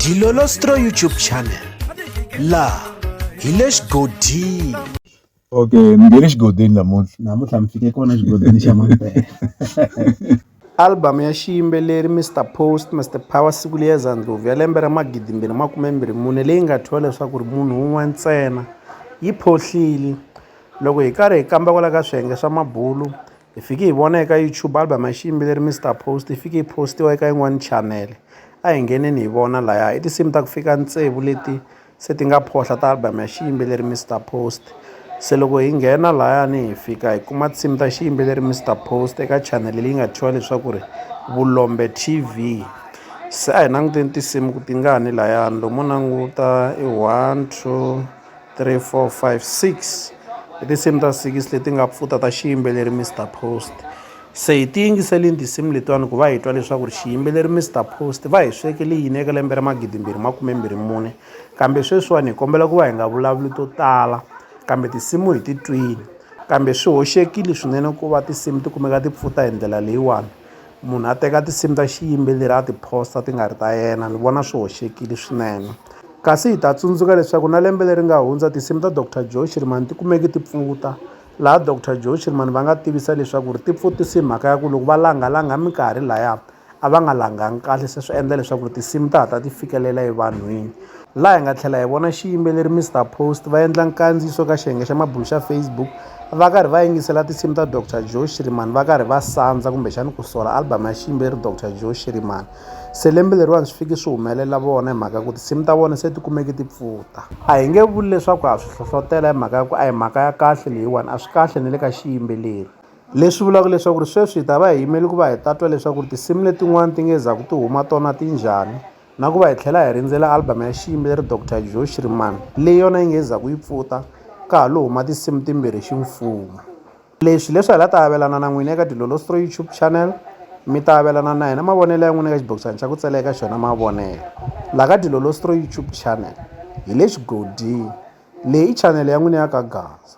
Dilolostro YouTube channel la hi le xigodini okay mi nge le xigodini namuntlha namuntlha mi fike kona xigodini xa mampela album ya xiyimbeleri mr post mr power siku liya zandlovu ya lembe ra magidimbirhi makumembirhi mune leyi nga thyiwa leswaku ri munhu wun'we ntsena yi phohlile loko hi karhi hi kamba kwala ka swiyenge swa mabulu Hi fike hi vona eka YouTube album ya xiyimbeleri Mister Post yi fike yi postiwa eka yin'wani channel. A hi ngheneni hi vona laya i tinsimu ta ku fika tsevu leti se ti nga phohla ta album ya xiyimbeleri Mister Post. Se loko hi nghena layani hi fika hi kuma tinsimu ta xiyimbeleri Mister Post eka channel leyi nga thyiwa leswaku ri Vulombe T_V. Se a hi languteni tinsimu ku tingani layani lomo languta i one two. three four five six i tinsimu ta six leti nga pfuta ta xiyimbeleri Mister Post se hi ti yingiselini tinsimu letiwani ku va hi twa leswaku ri xiyimbeleri Mister Post va hi swekele yini eka lembe ra magidi mbirhi makume mbirhi mune kambe sweswiwani hi kombela ku va hi nga vulavuli to tala kambe tinsimu hi ti twini kambe swi hoxekile swinene ku va tinsimu ti kumeka ti pfuta hi ndlela leyiwani munhu a teka tinsimu ta xiyimbeleri a ti-post-a ti nga ri ta yena ni vona swi hoxekile swinene kasi hi ta tsundzuka leswaku na lembe leri nga hundza tinsimu ta doctor joe shirimani ti kumeki ti pfuta laha doctor joe shirimani va nga tivisa leswaku ri ti pfutise hi mhaka ya ku loko va langalanga minkarhi laya a va nga langangi kahle se swi endla leswaku tinsimu ta hatla ti fikelela evanhwini laha hi nga tlhela hi vona xiyimbeleri Mister Post va endla nkandziyiso ka xiyenge xa mabulo xa Facebook va karhi va yingisela tinsimu ta Doctor Joe Shirimani va karhi va sandza kumbexani ku sola album ya xiyimbeleri Doctor Joe Shirimani se lembe leriwani swi fiki swi humelela vona hi mhaka ku tinsimu ta vona se ti kumeke ti pfuta a hi nge vuli leswaku ha swi hlohlotela hi mhaka ya ku a hi mhaka ya kahle leyiwani a swi kahle ni le ka xiyimbeleri leswi vulaka leswaku ri sweswi hi ta va hi yimele ku va hi ta twa leswaku ri tinsimu letin'wani ti nge za ku ti huma tona ti njhani na ku va hi tlhela hi rindzela album ya xiyimbeleri Doctor Joe Shriman leyi yona yi nge zaku yi pfuta ka ha lo huma tinsimu timbirhi ximfumo leswi leswi hi la ta avelana na n'wina eka dilolostro youtube channel mi ta avelana na hina mavonelo ya n'wina eka xibokisana xa ku tsela eka xona mavonelo la ka dilolostro youtube channel hi le xigodini leyi i chanele ya n'wina ya ka gaza